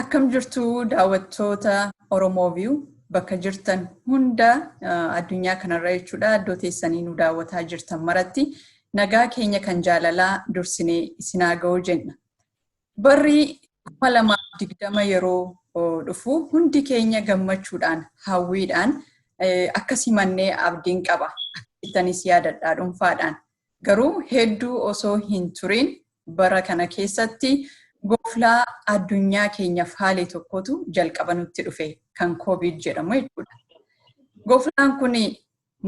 Akkam jirtu daawwattoota Oromoo View bakka jirtan hunda addunyaa kanarra jechuudha iddoo teessanii nu daawwataa jirtan maratti nagaa keenya kan jaalalaa dursinee isinaa ga'uu jenna. Barri kuma lamaaf digdama yeroo dhufu hundi keenya gammachuudhaan hawwiidhaan akka simannee abdiin qaba. Akkamittis yaadadhaa dhuunfaadhaan. Garuu hedduu osoo hin turin bara kana keessatti goflaa addunyaa keenya faale tokkotu jalqaba nutti dhufe kan koovid jedhamu jechuudha. Goflaan kun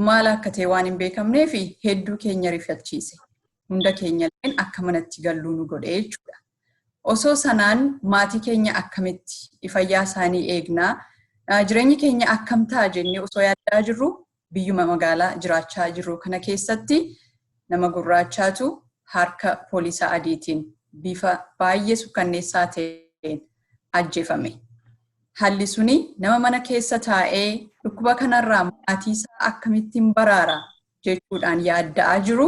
maal akka ta'e waan hin beekamnee fi hedduu keenya rifachiise. Hunda keenya illee akka manatti galluu nu godhe jechuudha. Osoo sanaan maatii keenya akkamitti fayyaa isaanii eegnaa jireenyi keenya akkam ta'a jennee osoo yaadaa jirru biyyuma magaalaa jiraachaa jirru kana keessatti nama gurraachaatu harka poolisaa adiitiin bifa baay'ee sukkanneessaa ta'een ajjeefame. Haalli suni nama mana keessa taa'ee dhukkuba kanarraa maatiisaa akkamittiin baraara jechuudhaan yaadda'aa jiru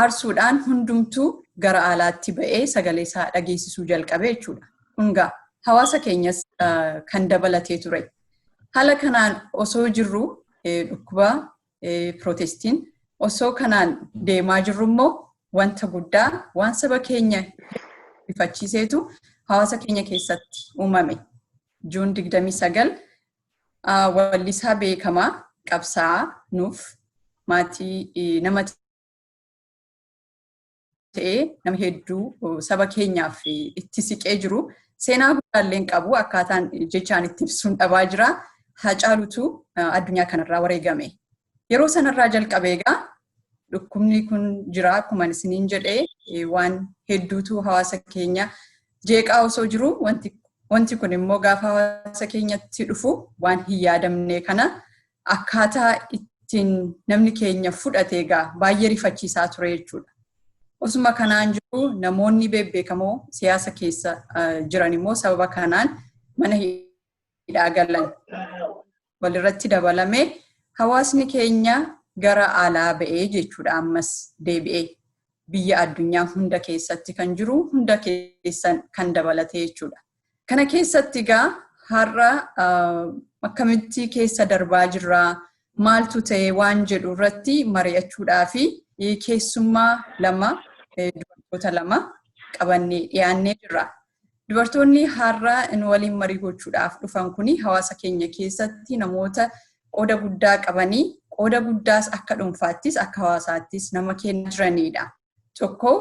aarsuudhaan hundumtuu gara aalaatti ba'ee sagalee isaa dhageessisuu jalqabe jechuudha. Kun gaa hawaasa keenyas kan dabalatee ture. Haala kanaan osoo jirru dhukkuba pirootestiin osoo kanaan deemaa jirru immoo wanta guddaa waan saba keenya ifachiiseetu hawaasa keenya keessatti uumame. Juun 29 wallisaa beekamaa qabsaa'aa nuuf maatii namatti ta'ee nama hedduu saba keenyaaf itti siqee jiru. Seenaa guddaalleen qabu akkaataan jechaan itti ibsuun dhabaa jira. Hacaalutu addunyaa kanarraa wareegame. Yeroo sanarraa jalqabee egaa dhukkubni kun jira akkuma isiniin jedhee waan hedduutu hawaasa keenya jeeqaa osoo jiru wanti kun immoo gaafa hawaasa keenyatti dhufu waan hin yaadamne kana akkaataa ittiin namni keenya fudhate egaa baay'ee rifachiisaa ture jechuudha. Osuma kanaan jiru namoonni beekamoo siyaasa keessa jiran immoo sababa kanaan mana hidhaa galan walirratti dabalame hawaasni keenya gara alaa ba'ee jechuudha ammas deebi'ee biyya addunyaa hunda keessatti kan jiru hunda keessan kan dabalate jechuudha. Kana keessatti egaa har'a akkamitti keessa darbaa jirra maaltu ta'e waan jedhu irratti mari'achuudhaa fi keessummaa lama dubartoota lama qabannee dhiyaannee jirra. Dubartoonni har'a nu waliin marii gochuudhaaf dhufan kun hawaasa keenya keessatti namoota qooda guddaa qabanii qooda guddaas akka dhuunfaattis akka hawaasaattis nama kennaa jiranidha. tokko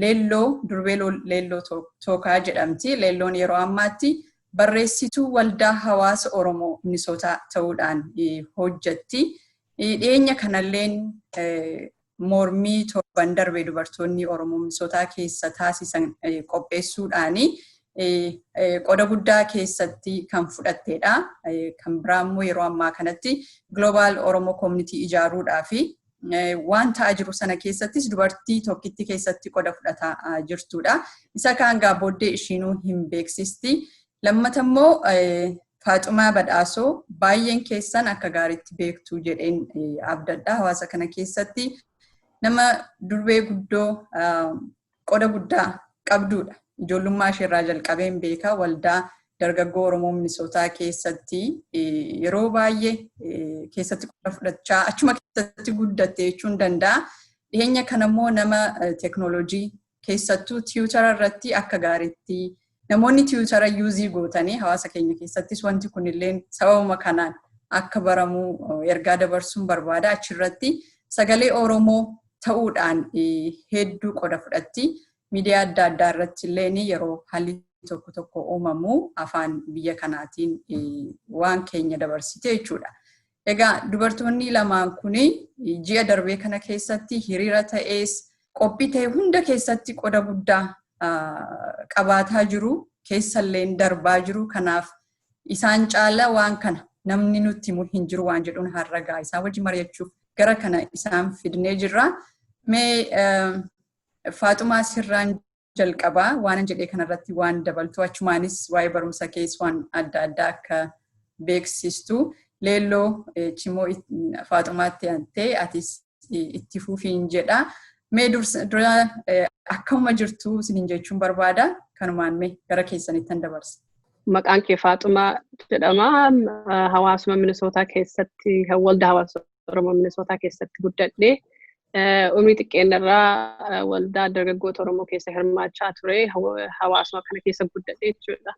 leelloo durbee leelloo tookaa jedhamti. Leelloon yeroo ammaatti barreessituu waldaa hawaasa Oromoo Minisootaa ta'uudhaan hojjetti. Dhiyeenya kanalleen mormii torban darbe dubartoonni Oromoo Minisootaa keessa taasisan qopheessuudhaan qooda guddaa keessatti kan fudhatteedha. Kan biraa immoo yeroo ammaa kanatti Global Oromoo Community ijaaruudhaa fi waan ta'aa jiru sana keessattis dubartii tokkitti keessatti qoda fudhataa jirtudha. Isa kaan gaa booddee ishiinuu hin beeksisti. Lammata immoo Faaxumaa Badhaasoo baay'een keessan akka gaariitti beektu jedheen abdadha. Hawaasa kana keessatti nama durbee guddoo qoda guddaa qabduudha. Ijoollummaa ishee irraa jalqabeen beeka waldaa dargaggoo Oromoo Minisootaa keessatti yeroo baay'ee keessatti qooda fudhachaa achuma keessatti guddatte jechuun danda'a. Dhiyeenya kanammoo nama teeknooloojii keessattuu tiwutara irratti akka gaariitti Namoonni tiwutara yuuzii gootanii hawaasa keenya keessattis wanti kunilleen sababuma kanaan akka baramu ergaa dabarsuun barbaada. Achirratti sagalee Oromoo ta'uudhaan hedduu qoda fudhatti. Miidiyaa adda addaa irratti illee yeroo haalli tokko tokko uumamu afaan biyya kanaatiin waan keenya dabarsite jechuudha. Egaa dubartoonni lamaan kun ji'a darbee kana keessatti hiriira ta'ees qophii ta'e hunda keessatti qoda guddaa qabaataa jiru keessalleen darbaa jiru kanaaf isaan caala waan kana namni nutti himu hin jiru waan jedhuun harragaa isaa wajji mari'achuuf gara kana isaan fidnee jirra. Mee Faaxumaa sirraan jalqabaa waanan jedhee kanarratti waan dabaltu achumaanis waa'ee barumsa kees waan adda addaa akka beeksistu leelloo cimoo faaxumaatti antee atis itti fufiin jedha. Mee dura akkuma jirtu isiniin jechuun barbaada kanumaan mee gara keessanittan dabarsa. Maqaan kee Faaxumaa jedhama. Hawaasuma Minisootaa keessatti waldaa hawaasummaa Oromoo Minisootaa keessatti guddadhe. Umrii xiqqeenyarraa waldaa dargaggoota Oromoo keessa hirmaachaa ture. Hawaasuma kana keessa guddadhe jechuudha.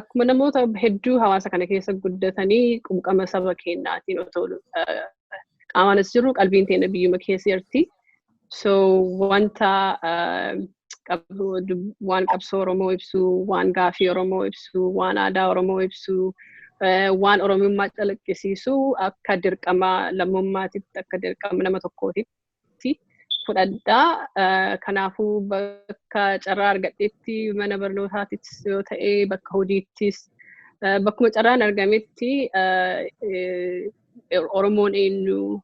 Akkuma namoota hedduu hawaasa kana keessa guddatanii qubqama saba keenyaatiin otoo qaamaanis jiru qalbiin teenya biyyuma keessa jirti. So wanta uh, qabsoo dub- waan qabsoo Oromoo ibsu, waan gaafii Oromoo ibsu, waan aadaa Oromoo ibsu, eh, waan Oromummaa calaqqisiisu akka dirqama lammummaatitti, akka dirqama nama tokkootitti fudhadha. Eh, Kanaafuu bakka carraa argadhetti mana barnootaattis yoo ta'e, bakka hojiittis, eh, bakkuma carraan argametti eh, eh, Oromoon eenyu,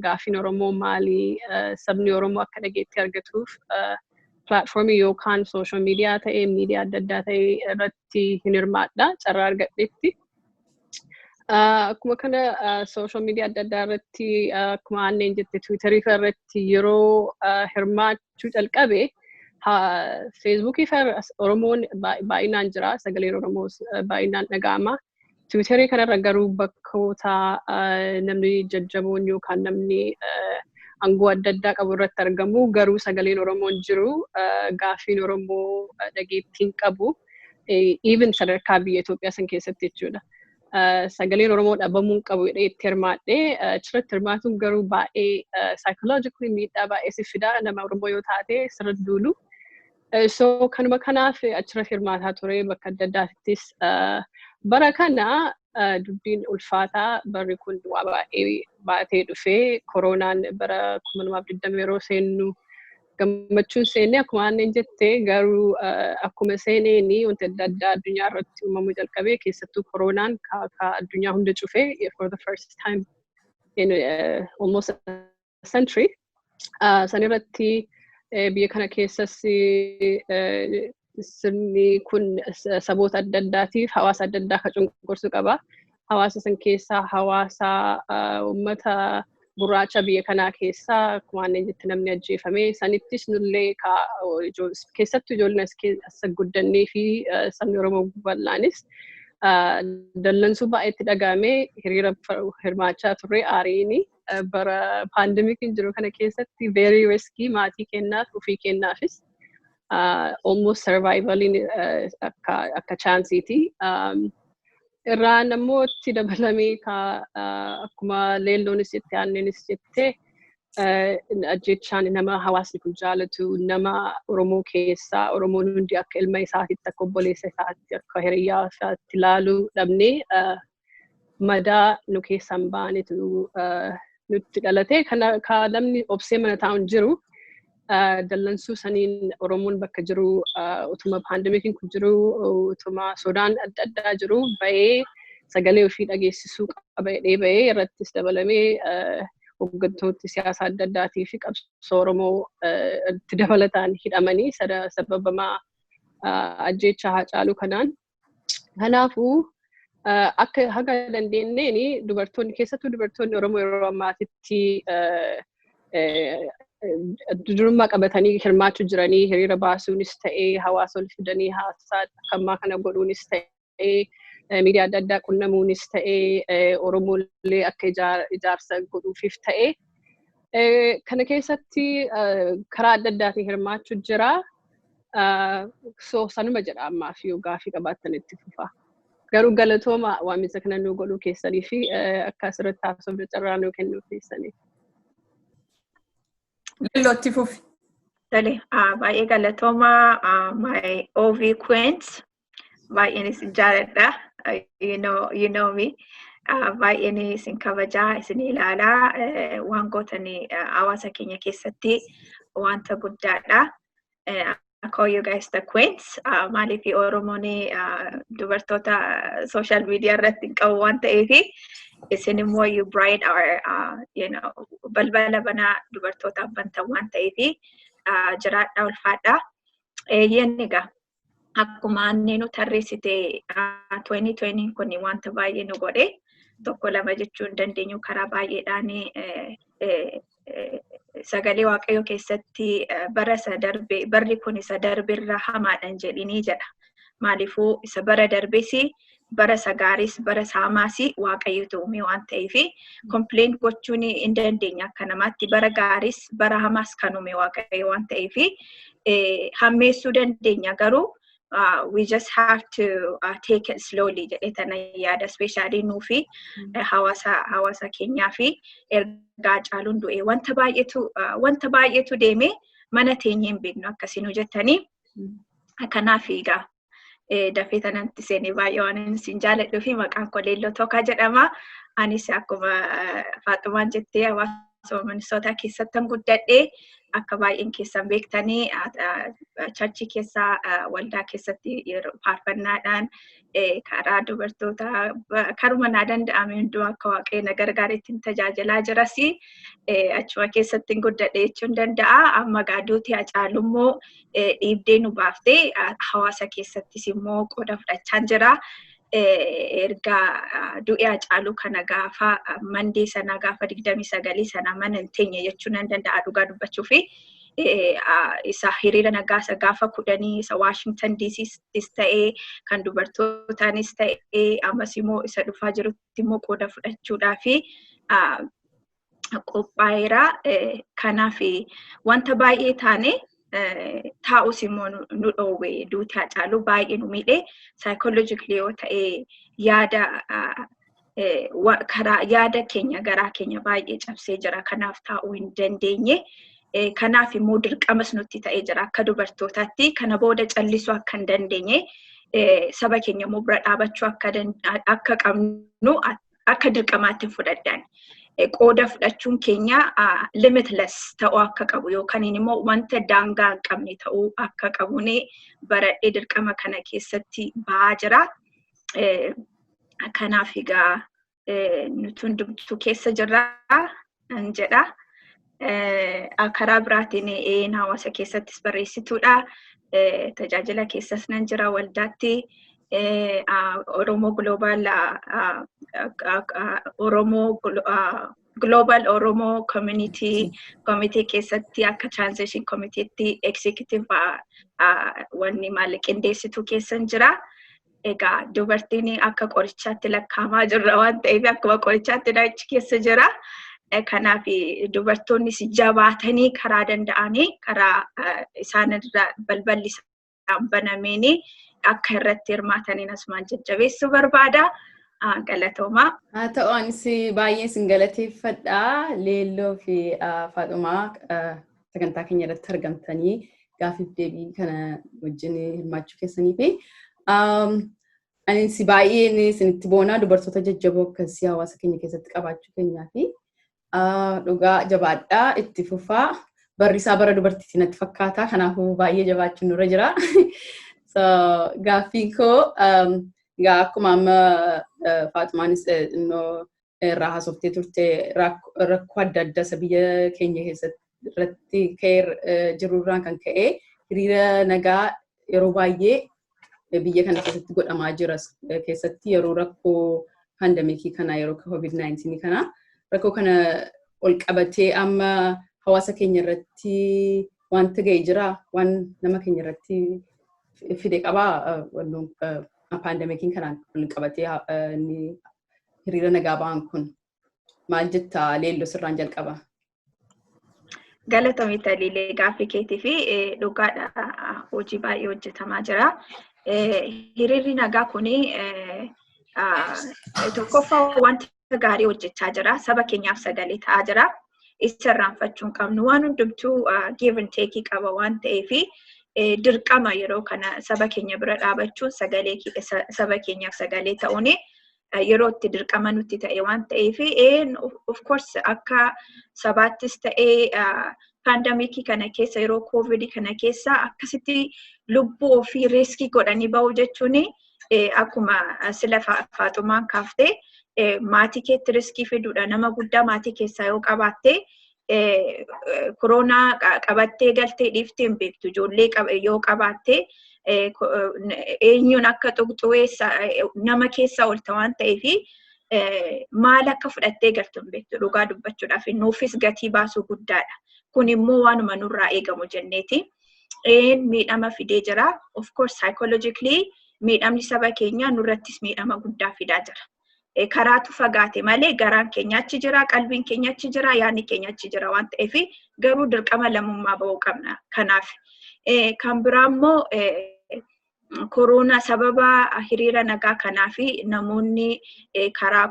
gaaffiin Oromoo maali sabni Oromoo akka dhageetti argatuuf pilaatfoormii yookaan sooshaal miidiyaa ta'ee miidiyaa adda addaa ta'ee irratti hin hirmaadha carraa argadhetti. Akkuma kana sooshaal miidiyaa adda addaa irratti akkuma aanneen jette tiwiitarii fa'a irratti yeroo hirmaachuu calqabe feesbuukii fa'a Oromoon baay'inaan jira sagaleen Oromoos baay'inaan dhaga'ama. Tiwiitarii kanarra garuu bakkoota namni jajjaboon yookaan namni aangoo adda addaa qabu irratti argamu garuu sagaleen Oromoon jiru gaaffiin Oromoo dhageettiin qabu even sadarkaa biyya Itoophiyaa san keessatti jechuudha. Sagaleen Oromoo dhabamuun qabu jedhee itti hirmaadhe achirratti hirmaatuun garuu baay'ee psychologically miidhaa baay'ee si fidaa nama Oromoo yoo taate sirra duulu. So kanuma kanaaf achirra hirmaataa ture bakka adda addaattis bara kana dubbiin ulfaataa barri kun waa baay'ee baatee dhufee koroonaan bara 2020 yeroo seennu gammachuun seenne akkuma aannan jette garuu akkuma seeneen wanti adda addaa addunyaa irratti uumamuu jalqabee keessattuu koroonaan ka addunyaa hunda cufee for the first time in uh, almost century sanirratti biyya kana keessas sirni kun saboota adda addaatiif hawaasa adda addaa akka cunqursu qaba. Hawaasa san keessaa hawaasa uummata gurraacha biyya kanaa keessaa akkuma aannan jette namni ajjeefame sanittis nullee keessattuu ijoolleen as guddannee fi sabni Oromoo bal'aanis dallansuu baay'eetti dhaga'ame hiriira hirmaachaa turre aariini. bara paandemikiin jiru kana keessatti very risky maatii kennaaf ofii kennaafis almost survivaliin akka akka chaansiiti. Irraan ammoo itti dabalamee akkuma leelloonis jette aanneenis jette ajjechaan nama hawaasni kun jaalatu nama Oromoo keessaa Oromoon hundi akka ilma isaatitti akka obboleessa isaatti akka hiriyyaa isaatti ilaalu dhabnee madaa nu keessaan ba'anitu nutti dhalate. Ka namni obsee mana taa'u hin jiru. Dallansuu saniin Oromoon bakka jiru utuma paandemikiin kun jiru utuma sodaan adda addaa jiru ba'ee sagalee ofii dhageessisuu qaba jedhee ba'ee irrattis dabalamee hooggantooti siyaasa adda addaatii fi qabsoo Oromoo itti dabalataan hidhamanii sababamaa ajjeechaa haacaaluu kanaan Kanaafuu akka haga dandeenyeen dubartoonni keessattuu dubartoonni Oromoo yeroo ammaatitti durummaa qabatanii hirmaachuu jiranii hiriira baasuunis ta'ee hawaasa ol fidanii haasaa akka ammaa kana godhuunis ta'ee miidiyaa adda addaa qunnamuunis ta'ee Oromoolee akka ijaarsa godhuufiif ta'ee kana keessatti karaa adda addaatiin hirmaachuu jira. So sanuma jedha ammaaf yoo gaafii qabaattan itti fufaa. Garuu galatooma waamicha kana nuu godhuu keessanii fi akka asirratti haasofne carraa nuu kennuu keessaniif. Lilloo itti fufi. Tole, ah, baay'ee galatooma ah, my OV Queens Baay'een isin jaaladha. You know, you know me. Ah, Baay'een isin kabajaa, isin ilaalaa. Eh, Waan gootan eh, hawaasa keenya keessatti wanta guddaadha. Eh, I call you guys the queens. Ah, Maaliif Oromoon ah, dubartoota social media irratti hin qabu waan ta'eef isin immoo you bride our ah, you know, balbala banaa dubartootaaf bantan waan ta'eef ah, jiraadha ulfaadha. Eeyyeen egaa akkuma anneenu tarreessite 2020 kun wanta baay'ee nu godhe tokko lama jechuu hin dandeenyu karaa baay'eedhaan sagalee waaqayyoo keessatti bara isa darbe barri kun isa darbe irra hamaadhaan jedhinii jedha. Maaliifuu isa bara darbesi bara isa gaariis bara isa hamaas waaqayyotu uume waan ta'eef kompileen gochuun hin dandeenya akka namaatti bara gaariis bara hamaas kan uume waaqayyo waan ta'eef hammeessuu dandeenya garuu we just have to uh, take it slowly jedhee tana yaada ispeeshaalii nuu fi hawaasa hawaasa keenyaa fi ergaa caaluun du'e wanta baay'eetu wanta baay'eetu deeme mana teenyee hin beeknu akkasiin hojjetanii kanaaf egaa dafee tanatti seenee baay'ee waan inni siin jaaladhuu fi maqaan koo Leelloo Tookaa jedhama. Anis akkuma Faaxumaan jettee hawaasuma Minisootaa keessattan guddadhe akka baay'een keessan beektanii charchii keessa waldaa keessatti yeroo faarfannaadhaan karaa dubartootaa karuma naa danda'ame hunduu akka waaqayyo na gargaaretti tajaajilaa jiras achuma keessatti guddadhe jechuun danda'a amma gaaduuti hacaalummoo dhiibdee nu baaftee hawaasa keessattis immoo qooda fudhachaa jira. Erga du'e Hacaaluu kana gaafa mandee sana gaafa digdamii sagalii sana mana hin teenye jechuu nan danda'a dhugaa dubbachuu fi isa hiriira nagaa isa gaafa kudhanii isa Waashingtan DCs ta'ee kan dubartootaanis ta'ee ammas immoo isa dhufaa jirutti immoo qooda fudhachuudhaa fi qophaa'eera. Kanaaf wanta baay'ee taane taa'us immoo nu dhoowwe duuti hacaalu baay'ee nu miidhe saayikooloojikli yoo ta'e yaada karaa yaada keenya garaa keenya baay'ee cabsee jira kanaaf taa'uu hin dandeenye. Kanaaf immoo dirqamas nutti ta'ee jira akka dubartootaatti kana booda callisuu akka hin dandeenye saba keenya immoo bira dhaabachuu akka qabnu akka dirqamaatti hin fudhadhaan. Qooda fudhachuun keenya limitless ta'uu akka qabu yookaan immoo wanta daangaa hin qabne ta'uu akka qabu ni baradhee dirqama kana keessatti ba'aa jira. Kanaaf egaa nuti hundumtuu keessa jirra. nan jedha. Karaa biraatiin eeyyeen hawaasa keessattis barreessituudha. Tajaajila keessas nan jira waldaatti. Oromoo Global Oromoo Global Oromoo Community Committee keessatti akka Transition Committeetti Executive wanni maal qindeessituu keessan jira. Egaa dubartiin akka qorichaatti lakkaamaa jirra waan ta'eef akkuma qorichaatti achi keessa jira. Kanaaf dubartoonnis jabaatanii karaa danda'anii karaa isaanirra balballi isaan banameen akka irratti hirmaataniin asumaan jajjabeessuu barbaada. Galatoomaa. Haa ta'u anis baay'ee isin galateeffadha. Leelloo fi Faaxumaa sagantaa keenya irratti argamtanii gaafiif deebii kana wajjin hirmaachuu keessanii fi anis baay'een isinitti boonaa dubartoota jajjaboo akkasii hawaasa keenya keessatti qabaachuu keenyaa fi dhugaa jabaadhaa itti fufaa barri isaa bara dubartiitti natti fakkaata kanaafuu baay'ee jabaachuun nurra jira. So gaaffiin koo egaa akkuma amma Faaxumaanis innoo irraa haasoftee turte rakkoo adda addaa isa biyya keenya keessatti irratti ka'ee jirurraan kan ka'e hiriira nagaa yeroo baay'ee biyya kana keessatti godhamaa jira keessatti yeroo rakkoo paandamikii kana yeroo COVID-19 kana rakkoo kana ol qabatee amma hawaasa keenya irratti wanta ga'e jira waan nama keenya irratti fide qabaa paandamikiin kanaan ol qabatee hiriira nagaa ba'an kun maal jetta leelloo sirraan jalqaba. Galatoomi Taliilee gaaffii keetii fi dhugaadha hojii baay'ee hojjetamaa jira. Hiriirri nagaa kun tokkoffaa wanta gaarii hojjechaa jira. Saba keenyaaf sagalee ta'aa jira. isa irraanfachuu hin qabnu. Waan hundumtuu give and take qaba waan ta'eef dirqama yeroo kana saba keenya bira dhaabachuun sagalee saba keenyaaf sagalee ta'uun yeroo itti dirqama nutti ta'e waan ta'eef of course akka sabaattis ta'ee paandamikii kana keessa yeroo koovidii kana keessa akkasitti lubbuu ofii riiskii godhanii ba'u jechuun akkuma sila faaxumaan kaaftee maatii keetti riskii fiduudha. Nama guddaa maatii keessaa yoo qabaattee koronaa qabattee galtee dhiiftee hin beektu. Ijoollee yoo qabaattee eenyuun akka tuqxu nama keessaa oolta waan ta'eef maal akka fudhattee galtu hin beektu dhugaa dubbachuudhaaf nuufis gatii baasuu guddaadha. Kun immoo waanuma nurraa eegamu jenneeti. miidhama fidee jira. Of course psychologically miidhamni saba keenyaa nurrattis miidhama guddaa fidaa jira. Karaatu fagaate malee garaan keenya achi jira, qalbiin keenya achi jira, yaadni keenya achi jira waan ta'eef garuu dirqama lammummaa ba'uu qabna. Kanaaf kan biraa immoo koroona sababa hiriira nagaa kanaa fi namoonni karaa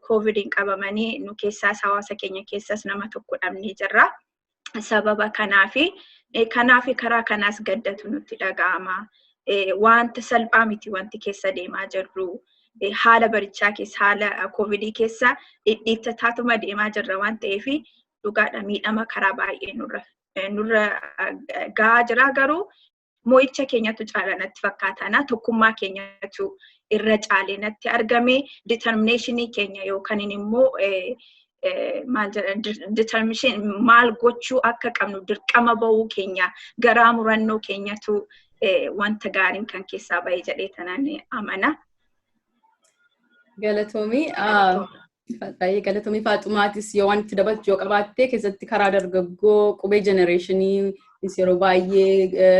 koovidiin qabamanii nu keessaas hawaasa keenya keessas nama tokko dhabnee jirra. sababa kanaafi kanaafi karaa kanaas gaddatu nutti dhaga'ama. Wanta salphaa miti wanti keessa deemaa jirru. Haala barichaa keessa haala koovidii keessa dhidhiittataatuma deemaa jirra waan ta'eef dhugaadha miidhama karaa baay'ee nurra gahaa jira garuu mo'icha keenyatu caala natti fakkaataana tokkummaa keenyatu irra caale natti argame determineeshinii keenya yookaan immoo maal jedhan determineeshin maal gochuu akka qabnu dirqama ba'uu keenya garaa murannoo keenyatu wanta gaariin kan keessaa ba'e jedhee tanan amana. Galatoomii baay'ee galatoomii faaxumaatis yoo waan itti dabaltu yoo qabaatte keessatti karaa dargaggoo qubee jenereeshinii yeroo baay'ee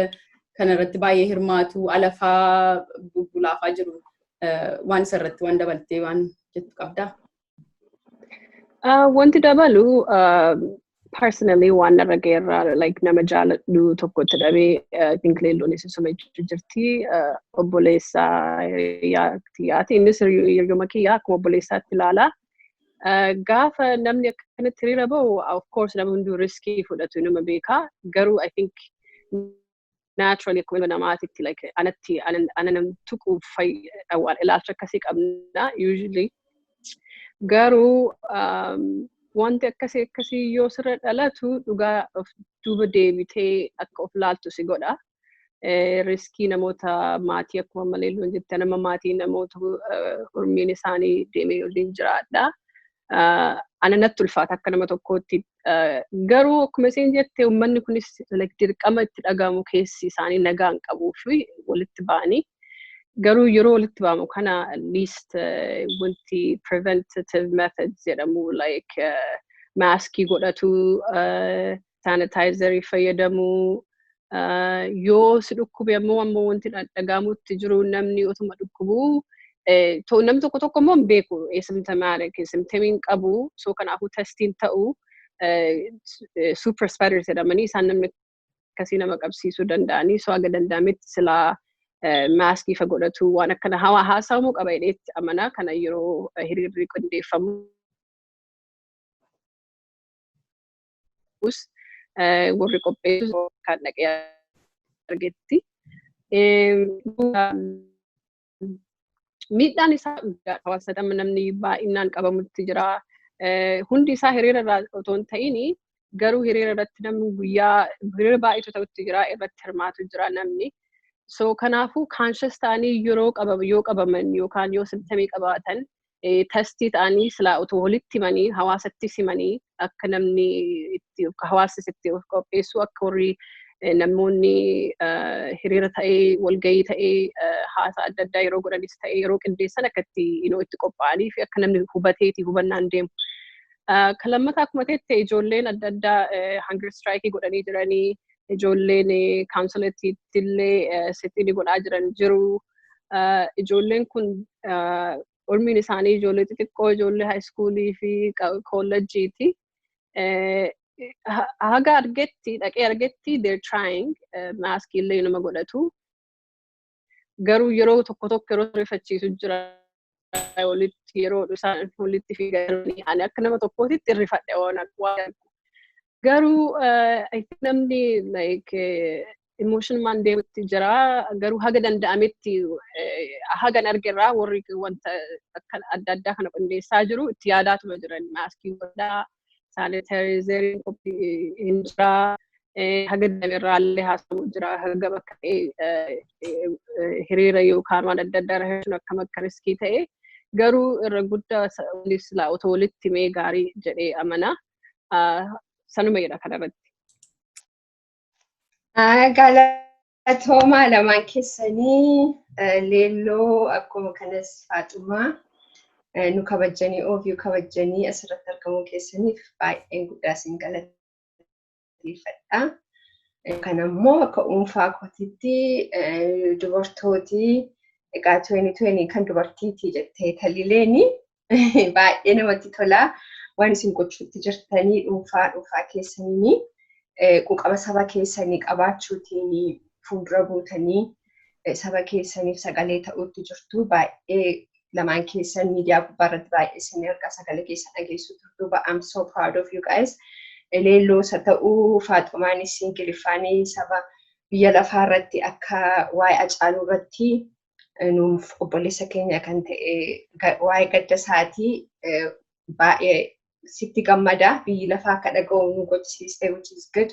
kanarratti baay'ee hirmaatu alafaa bulbulaafaa jiru waan isarratti waan dabaltee waan jettu qabdaa. Uh, wanti dabalu uh, personally waan narra ga'eerraa like nama jaaladhu tokkotti dhabee uh, think leelluunis isuma jechuu jirti uh, obboleessaa hiriyaatti yaati innis hiriyu- hiriyyuma kiyya akkuma obboleessaatti ilaala. Uh, gaafa namni akkanatti hiriira ba'u of course namni hunduu riskii fudhatu inuma beeka garuu I think naturally akkuma ilma namaatitti like anatti ana nam tuquuf fayyadha waan ilaalcha akkasii qabna usually garuu um, wanti akkasii akkasii yoo sirra dhalatu dhugaa of duuba deebitee akka of laaltu si godha. Eh, Riskii namoota maatii akkuma malee loon jette nama maatii namoota eh, urmiin isaanii deemee waliin jiraadha. ana natti ulfaata akka nama tokkootti. Garuu akkuma isin jette uummanni kunis dirqama itti dhagahamu keessi isaanii nagaa hin qabuu fi walitti ba'anii garuu yeroo walitti ba'amu kana at least wanti preventative methods jedhamu like maaskii godhatu saanitaayizarii fayyadamuu yoo si dhukkube ammoo ammoo wanti dhagahamutti jiru namni otuma dhukkubuu nam tokko tokko immoo hin beeku eesimtamaarik eesimtamiin qabu soo kanaafuu testiin ta'u super spiders jedhamanii isaan namni akkasii nama qabsiisuu danda'anii soo haga danda'ametti silaa maaskii fa godhatu waan akkana hawaa haasa'amuu qaba jedheetti amanaa kana yeroo hiriirri qindeeffamu. ta'us warri qopheessu kan dhaqee argetti. Miidhaan isaa guddaa hawaasa dhamma namni baay'inaan qabamutti jira. Hundi isaa hiriira irraa otoo hin ta'in garuu hiriira irratti namni guyyaa hiriira baay'eetu ta'utti jira irratti hirmaatu jira namni. So kanaafuu kaanshes ta'anii yeroo yoo qabaman yookaan yoo simtamii qabaatan tastii ta'anii silaa utuu walitti himanii hawaasatti simanii akka namni itti hawaasnis itti of qopheessu akka warri namoonni hiriira ta'ee walgahii ta'ee haasaa adda addaa yeroo godhanis ta'ee yeroo qindeessan akka itti inoo itti qophaa'anii fi akka namni hubateeti hubannaan deemu. Kan lammataa akkuma ta'etti ijoolleen adda addaa hangir istiraayikii godhanii jiranii ijoolleen kaawunsilatiitti illee sittiini godhaa jiran jiru. Ijoolleen kun umriin isaanii ijoollee xixiqqoo ijoollee haayiskuulii fi koolleejjiiti. Haga argetti dhaqee argetti they're trying maaskii illee nama godhatu. garuu yeroo tokko tokko yeroo rifachiisu jira walitti yeroo isaan walitti fiiganii ani akka nama tokkootitti irrifadhe waan akka waan garuu eh, I think namni like eh, emotion man deemutti jira garuu haga danda'ametti eh, hagan argerraa warri wanta akkan adda addaa kana qindeessaa jiru itti yaadaatuma jiran maaskii godhaa saanitaayizeriin qophii hin jira. Haga danda'ame irraa illee haasa'u jira. Haga bakka hiriira yookaan waan adda addaa irra hir'isuun akkam akka riskii ta'e garuu irra guddaa silaa otoo walitti himee gaarii jedhee amana. Sanuma jedha kanarratti. Atoomaa lamaan keessanii leelloo akkuma kanas faaxumaa nu kabajjanii oofiyuu kabajjanii asirratti argamuu keessaniif baay'een guddaa isin galateeffadha. Kan ammoo akka dhuunfaa kootiitti dubartooti egaa 2020 kan dubartiiti jettee talileeni baay'ee namatti tola. Waan isin gochuutti jirtanii dhuunfaa dhuunfaa keessanii quuqama saba keessanii qabaachuutiin fuuldura buutanii saba keessaniif sagalee ta'uutti jirtu. Baay'ee lamaan keessan miidiyaa gubbaa irratti baay'ee isin erga sagalee keessan dhageessuu turtu. But I'm so proud of you guys. Leelloo isa ta'uu faaxumaan isin gilifaanii saba biyya lafaa irratti akka waa'ee acaaluu irratti nuuf obboleessa keenya kan ta'e waa'ee gadda isaatii baay'ee sitti gammada biyyi lafaa akka dhaga'u nu gochisiiste which is good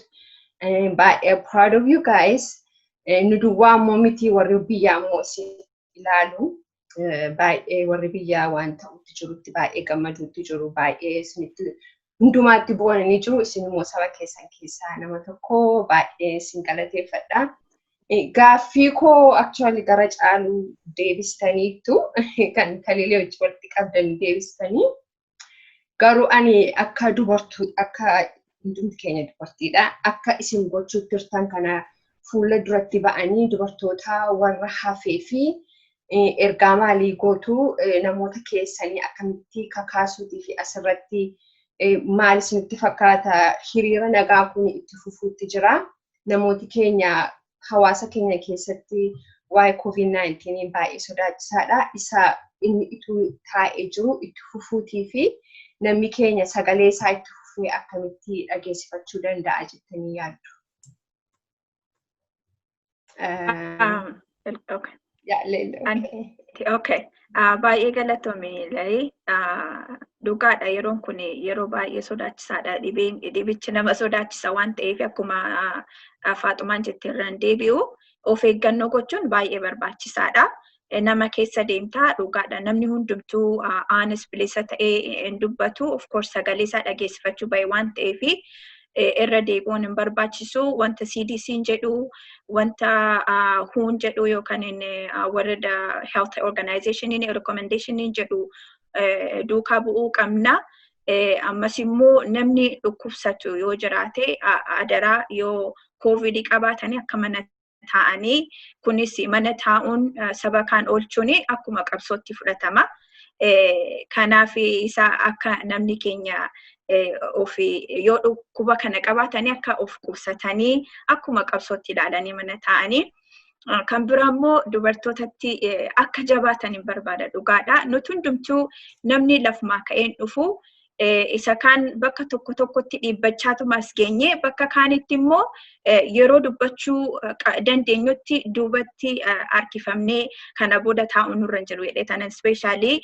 baay'ee proud of you guys nu duwwaa ammoo miti warri biyyaa ammoo si ilaalu baay'ee warri biyyaa waan ta'utti jirutti baay'ee gammaduutti jiru baay'ee isinitti hundumaatti bu'an ni jiru. Isin immoo saba keessan keessaa nama tokko baay'ee isin galateeffadha. Gaaffii koo actually gara caalu deebistaniittu kan kalilee wajji walitti qabdan deebistanii garuu ani akka dubartuu akka hundumti keenya dubartiidha akka isin gochuu turtan kana fuula duratti ba'anii dubartoota warra hafee fi ergaa maalii gootu namoota keessanii akkamitti kakaasuutii fi asirratti maal isinitti fakkaata hiriira nagaa kun itti fufuutti jira namooti keenya hawaasa keenya keessatti waa'ee COVID-19 baay'ee sodaachisaadha isa inni ituu taa'ee jiru itti fufuutii fi namni keenya sagalee isaa itti fufee akkamitti dhageessifachuu danda'a jettanii yaaddu. Um, Um, el- okay. yeah, Lily, An- okay. Ti- Okay. Ah, Baay'ee galatoomi Lalee. Ah, Dhugaadha yeroon kun yeroo baay'ee sodaachisaadha. Dhibeen dhibichi nama sodaachisa waan ta'eef akkuma ah, Faaxumaan jette irraan deebi'u of eeggannoo gochuun baay'ee barbaachisaadha. nama keessa deemtaa dhugaadha namni hundumtuu aanis bilisa ta'ee hin dubbatu of course sagalee isaa dhageessifachuu bahe waan ta'eef irra deebi'uun hin barbaachisu wanta CDC'n jedhu wanta huun jedhu yookaan world health organizationiin recommendationiin jedhu duukaa bu'uu qabna. Ammas immoo namni dhukkubsatu yoo jiraate adaraa yoo koovidii qabaatanii akka manatti taa'anii kunis mana taa'uun saba kaan oolchuun akkuma qabsootti fudhatama. Kanaaf isa akka namni keenya ofi yoo dhukkuba kana qabaatanii akka of qubsatanii akkuma qabsootti ilaalanii mana taa'anii. Kan biraa immoo dubartootatti akka jabaatan hin barbaada dhugaadha. Nuti hundumtuu namni lafumaa ka'een dhufu isa kaan bakka tokko tokkotti dhiibbachaatuma as geenye bakka kaanitti immoo yeroo dubbachuu dandeenyutti duubatti harkifamnee kana booda taa'u nurra hin jiru jedhee tanan ispeeshaalii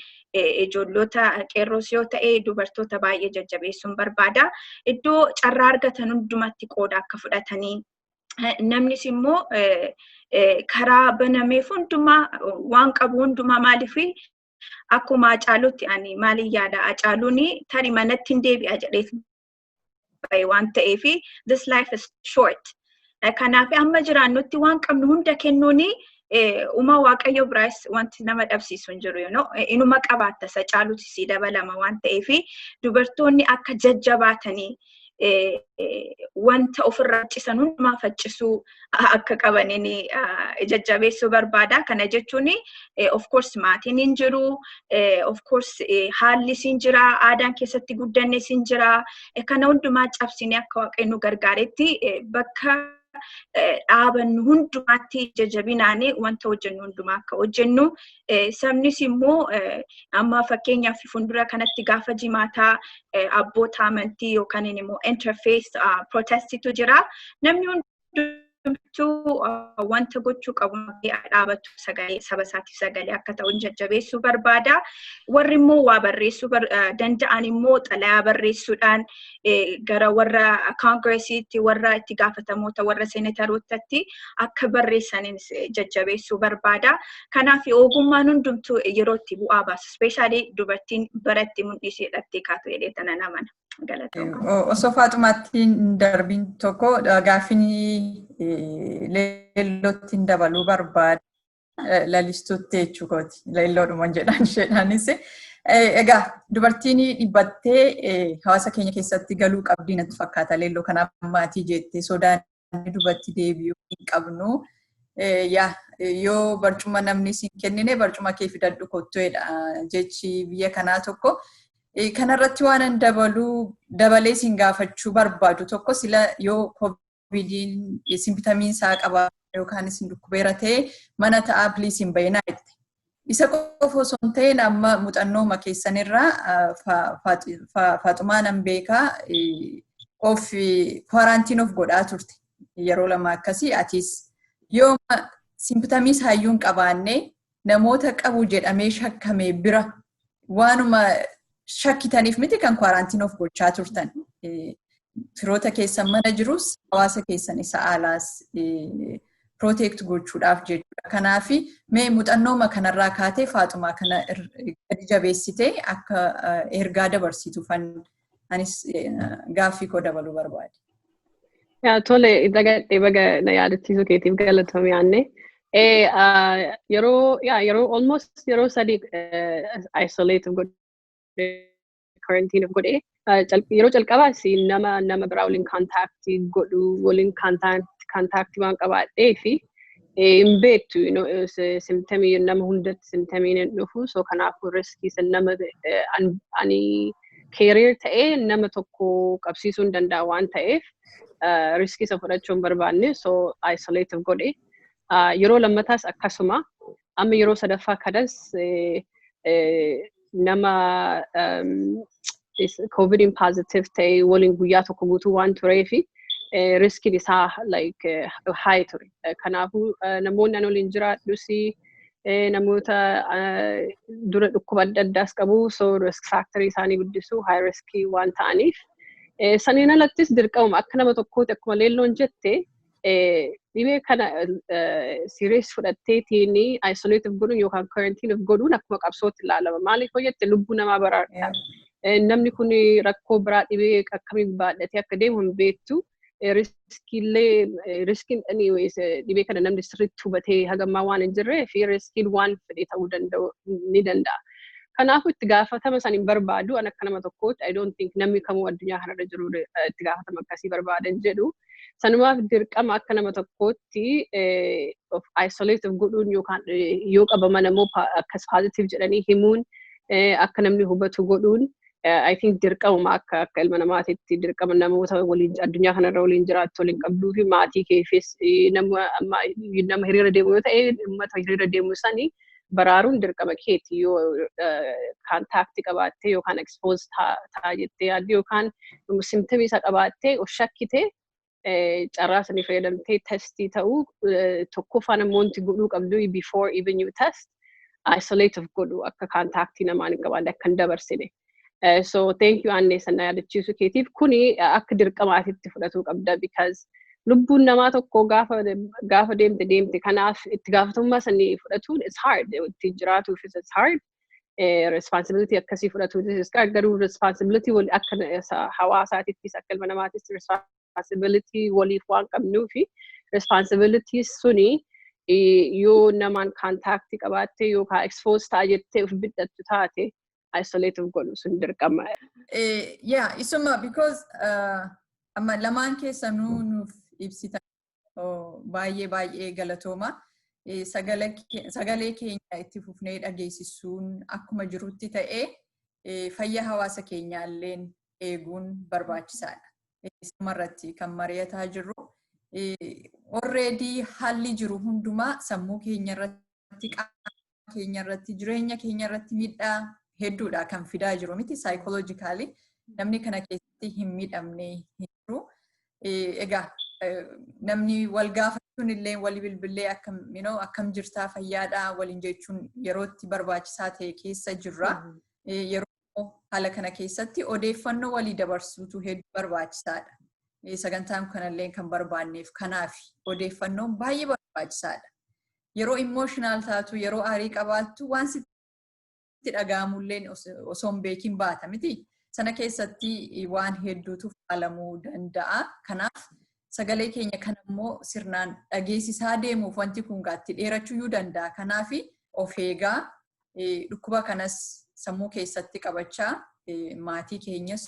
ijoollota qeerroos yoo ta'e dubartoota baay'ee jajjabeessuun barbaada. Iddoo carraa argatan hundumatti qooda akka fudhatanii namnis immoo karaa banameef hundumaa waan qabu hundumaa maaliif Akkuma Hacaaluutti ani maaliin yaada Hacaaluun tari manatti hin deebi'a jedhee bahe waan ta'eef this life is short. Kanaaf amma jiraannutti waan qabnu hunda kennuun uma waaqayyo biraas wanti nama dhabsiisu hin jiru yoo inuma qabaatta isa caaluuti sii dabalama waan ta'eef dubartoonni akka jajjabaatanii wanta ofirraa faccisan hundumaa faccisuu akka qabaniin jajjabeessuu barbaada. Kana jechuun of course maatiin hin jiru, of course haalli siin jira, aadaan keessatti guddanne siin jira. Kana hundumaa cabsinee akka waaqayyo nu gargaaretti bakka dhaabannu hundumaatti jajabinaanii wanta hojjennu hundumaa akka hojjennu Sabnis immoo amma fakkeenyaaf fuuldura kanatti gaafa jimaataa abboota amantii yookaan immoo interface protestitu jira. Namni hundumtuu wanta gochuu qabu dhaabatu sagalee saba isaatiif sagalee akka ta'u jajjabeessuu barbaada. Warri immoo waa barreessuu danda'an immoo xalayaa barreessuudhaan gara warra koongiresiitti warra itti gaafatamoota warra seenetarootatti akka barreessaniin jajjabeessuu barbaada. Kanaaf ogummaan hundumtuu yeroo itti bu'aa baasu ispeeshaalii dubartiin baratti mul'isuu hidhattee kaatu jedhee tanan amana. Osoo faaxumaattiin darbiin tokko gaaffiin leellottiin dabaluu barbaada. lalistuutti jechuu kooti. Laliloodhuma jedhaan isheedhaanis. Egaa dubartiin dhibbattee hawaasa keenya keessatti galuu qabdii natti fakkaata. Leelloo kana maatii jettee sodaan dubartii deebi'uu hin qabnu. Yoo barcuma namni siin kennine barcuma kee fidadhu kottoodha jechi biyya kanaa tokko. Kanarratti waan dabaluu dabalee siin gaafachuu barbaadu tokko sila yoo koovidiin isin bitamiin isaa qaba yookaan isin dhukkubeera ta'e mana ta'aa piliis hin bayinaa jette. Isa qofa osoo hin ta'in amma muuxannooma keessanirraa faaxumaa nan beekaa of kwaaraantiin of godhaa turte yeroo lama akkasii atis yooma simpitamiis hayyuu hin qabaanne namoota qabu jedhamee shakkame bira waanuma shakkitaniif miti kan kwaaraantiin of gochaa turtan. Firoota keessan mana jirus hawaasa keessan isa alaas protect gochuudhaaf jechuudha. Kanaaf mee muuxannooma kanarraa kaatee faaxumaa kana gadi jabeessitee akka ergaa dabarsituufan anis gaaffii koo dabaluu barbaade. Tole dagadhee baga na yaadachiisuu keetiif galatoomii aanne. Yeroo yeroo almost yeroo sadii isolate godhee quarantine godhee yeroo calqabaa si nama nama biraa waliin contact godhu waliin contact contact waan qabaadhee fi hin beektu simtamii nama hundatti simtamiin hin dhufu so kanaafuu riskii san nama ani keeriir ta'ee nama tokko qabsiisuu hin danda'a waan ta'eef riskii isa fudhachuu hin barbaanne so isolative godhe yeroo lammataas akkasuma amma yeroo sadaffaa kanas nama covidiin positive ta'e waliin guyyaa tokko guutuu waan turee fi riskiin isaa like high ture. Kanaafuu namoonni an waliin jiraadhus namoota dura dhukkuba adda addaas qabu so risk factor isaanii guddisuu high risk waan ta'aniif. Saniin alattis dirqamuma akka nama tokkootti akkuma leelloon jette dhibee kana serious fudhatteetiin isolate of godhuun yookaan quarantine of godhuun akkuma qabsootti ilaalama. Maaliif yoo jette lubbuu namaa baraarta. Namni kun rakkoo biraa dhibee akkamii baadhatee akka deemu hin beektu. Riskiillee riskiin anyways dhibee kana namni sirriitti hubatee hagammaa waan hin jirree fi riskiin waan fedhe ta'uu danda'u ni danda'a. Kanaafuu itti gaafatama san hin barbaadu an akka nama tokkootti I don't think namni kamuu addunyaa kanarra jiru itti gaafatama akkasii barbaada hin jedhu. Sanumaaf dirqama akka nama tokkootti of isolate of godhuun yookaan yoo qabaman ammoo akkas positive jedhanii himuun akka namni hubatu godhuun I think dirqamuma akka akka ilma namaatitti dirqama namoota waliin addunyaa kanarra waliin jiraattu waliin qabduu fi maatii keefis nama hiriira deemu yoo ta'e uummata hiriira deemu sanii baraaruun dirqama keeti yoo kaantaakti qabaattee yookaan expose ta'a jettee yaadde yookaan simtamii isa qabaattee of shakkite carraa sanii fayyadamtee testii ta'uu tokkoffaan ammoo wanti godhuu qabdu before even you test isolate of godhu akka kaantaaktii namaan hin qabaanne akka hin dabarsine. Eh, so thank you Annee sana yaadachiisu keetiif kuni eh, akka dirqamaatitti fudhatuu qabda because lubbuun namaa tokko gaafa gaafa deemte deemte kanaaf itti gaafatamummaa sanii fudhatuun it's hard ittiin jiraatuufis it's hard eh, responsibility akkasii fudhatuunis it's hard garuu responsibility wal akka na- sa- hawaasaatittis akka ilma namaattis responsibility waliif waan qabnuufi responsibility suni eh, yoo namaan contact qabaatte yookaan expose ta'a jettee of bidhattu taate isolate of godhu sun dirqama. Eh, yeah, isuma because uh, amma lamaan keessanuu nuuf ibsita oh, baay'ee baay'ee galatooma. Eh, sagala ke- Sagalee keenya itti fufnee dhageessisuun akkuma jirutti ta'ee eh, fayyaa hawaasa keenyaalleen eeguun barbaachisaadha. Eh, Isumarratti kan mari'ataa jirru eh, already haalli jiru hundumaa sammuu keenyarratti qaama keenya irratti jireenya keenya irratti miidhaa hedduudha kan fidaa jiru miti saayikooloojikaalii namni kana keessatti hin miidhamne hin jiru. Egaa namni wal gaafachuun illee wal bilbilee akkam akkam jirtaa fayyaadhaa waliin jechuun yerootti barbaachisaa ta'e keessa jirra. Yeroo Haala kana keessatti odeeffannoo walii dabarsuutu hedduu barbaachisaadha. Sagantaan kanallee kan barbaanneef kanaaf odeeffannoon baay'ee barbaachisaadha. Yeroo imooshinaal taatu, yeroo aarii qabaattu waan sitti dhaga'amulleen osoo hin beekin baata miti. Sana keessatti waan hedduutu faalamuu danda'a. Kanaaf sagalee keenya kan immoo sirnaan dhageessisaa deemuuf wanti kun gaatti dheerachuyyuu danda'a. Kanaaf of eegaa dhukkuba kanas sammuu keessatti qabachaa maatii keenyas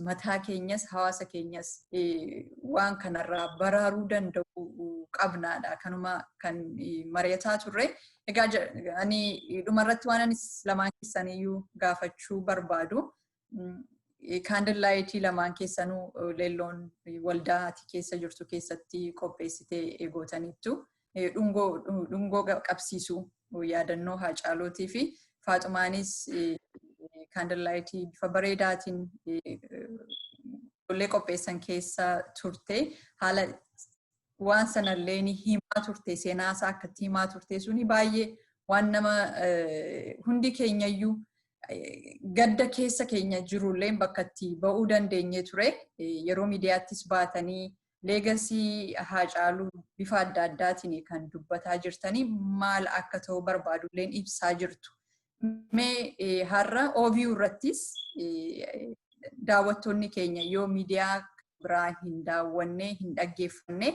mataa keenyas hawaasa keenyas waan kanarraa baraaruu danda'u qabnaadha kanuma kan mari'ataa turre. Egaa ani dhumarratti waan anis lamaan keessaniyyuu gaafachuu barbaadu kaandil laayitii lamaan keessanuu leelloon waldaa ati keessa jirtu keessatti qopheessitee eegootaniittu dhungoo qabsiisuu yaadannoo haacaalootii fi faaxumaanis kaandil laayitii bifa bareedaatiin ijoollee qopheessan keessa turte haala waan sanallee ni himaa turte seenaa isaa akkatti himaa turte suni baay'ee waan nama hundi keenyayyuu gadda keessa keenya jirullee bakkatti ba'uu dandeenye ture yeroo miidiyaattis baatanii leegasii haacaaluu bifa adda addaatiin kan dubbataa jirtanii maal akka ta'u barbaadulleen ibsaa jirtu. Mee har'a OVU irrattis daawwattoonni keenya yoo miidiyaa biraa hin daawwanne hin dhaggeeffanne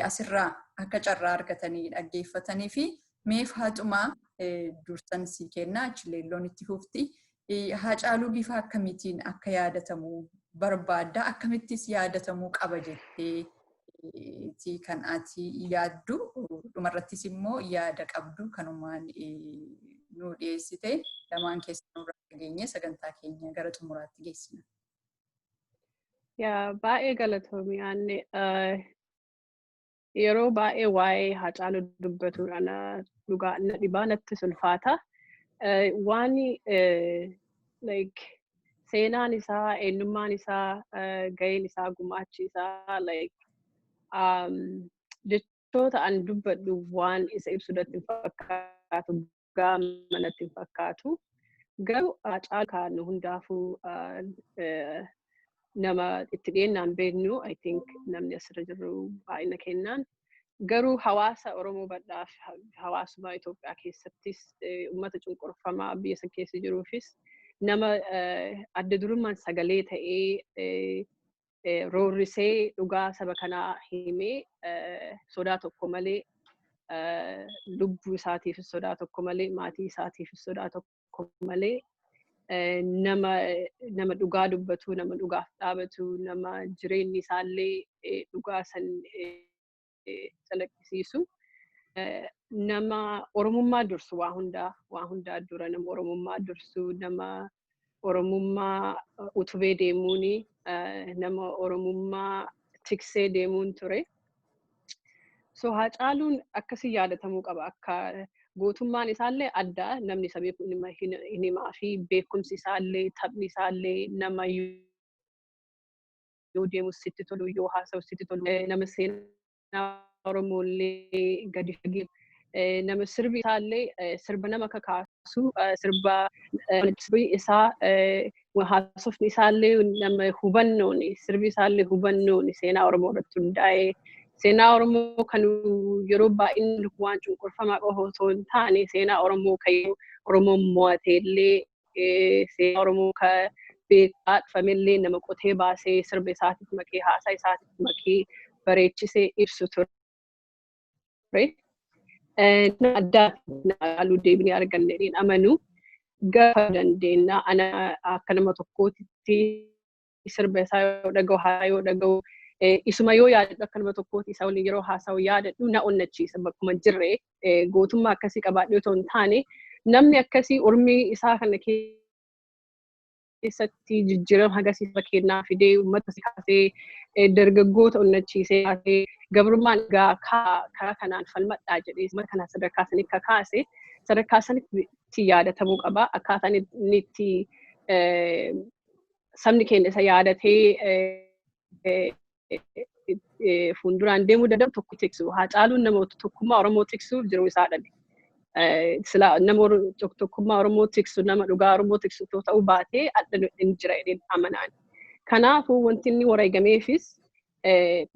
asirraa akka carraa argatanii dhaggeeffatanii fi mee faaxumaa dursan sii kenna achileelloon itti fufti. Haacaaluu bifa akkamiitiin akka yaadatamu barbaadda akkamittis yaadatamuu qaba jettee ti kan ati yaaddu dhumarrattis immoo yaada qabdu kanumaan nu dhiyeessite lamaan keessanuu irraa dhageenye sagantaa keenya gara xumuraatti geessina. Yaa baay'ee galatoomi aanne yeroo baay'ee waa'ee haacaaluu dubbatuudhaan dhugaa na dhibaa natti sulfaata. Waan like seenaan isaa, eenyummaan isaa, gaheen isaa, gumaachi isaa like jechoota an dubbadhu waan isa ibsu irratti hin fakkaatu gaama natti hin fakkaatu. Garuu caalu kan hundaafuu nama itti dhiyeennaan beeknu I think namni asirra jirru baay'ina kennaan Garuu hawaasa Oromoo bal'aaf hawaasuma Itoophiyaa keessattis uummata cunqurfamaa biyya san keessa jiruufis nama adda durummaan sagalee ta'ee roorrisee dhugaa saba kanaa himee sodaa tokko malee lubbuu isaatiifis sodaa tokko malee maatii isaatiifis sodaa tokko tokko malee nama nama dhugaa dubbatu nama dhugaaf dhaabatu nama jireenyi isaallee dhugaa san calaqqisiisu nama oromummaa dursu waa hundaa waa hundaa dura nama oromummaa dursu nama oromummaa utubee deemuuni nama oromummaa tiksee deemuun ture. So Haacaaluun akkasii yaadatamuu qaba. Akka gootummaan isaallee adda namni isa beeku hin hima- hin- hin himaa fi beekumsi isaallee taphni isaallee nama yoo deemu sitti tolu yoo haasa'u sitti tolu eh, nama seenaa Oromoollee gadi fagee eh, nama sirbi isaallee eh, sirba nama kakaasu eh, sirba eh, sirbi isaa eh, haasofni isaallee nama hubannoon sirbi isaallee hubannoon seenaa Oromoo irratti hundaa'ee seenaa Oromoo kan yeroo baay'inni waan cunqurfamaa qofa osoo hin taane seenaa Oromoo kan yeroo Oromoon mo'ateellee eh, seenaa Oromoo kan beekaa dhufamellee nama qotee baasee sirba isaatiif makee haasaa isaatiif makee bareechisee ibsu ture. ture. Nama addaa haaluu deebinee arganne hin amanu. Gaafa dandeenya ana akka nama tokkootitti sirba isaa yoo dhaga'u haasaa yoo dhaga'u isuma yoo yaadadhu akka nama tokkootti isa waliin yeroo haasa'u yaadadhu na onnachiisa bakkuma jirre gootummaa akkasii qabaadhee otoo hin taane namni akkasii urmii isaa kana keessatti jijjiirama hagasii saba keenyaa fidee uummata si kaasee eh, dargaggoota onnachiisee kaasee gabrummaan egaa kaa- karaa kanaan falmadhaa jedhee uummata kana sadarkaa sanii akka kaase sadarkaa sanitti yaadatamuu qaba akkaataa inni inni itti eh, sabni keenya isa yaadatee eh, eh, fuulduraan deemuu danda'u tokko tiksu. Haa caaluun nama tokkummaa Oromoo tiksuuf jiru isaa dhabe. Sila nama tokkummaa Oromoo tiksu, nama dhugaa Oromoo tiksu otoo ta'uu baatee adda hin jira jedheen amanaan. Kanaafuu wanti inni wareegameefis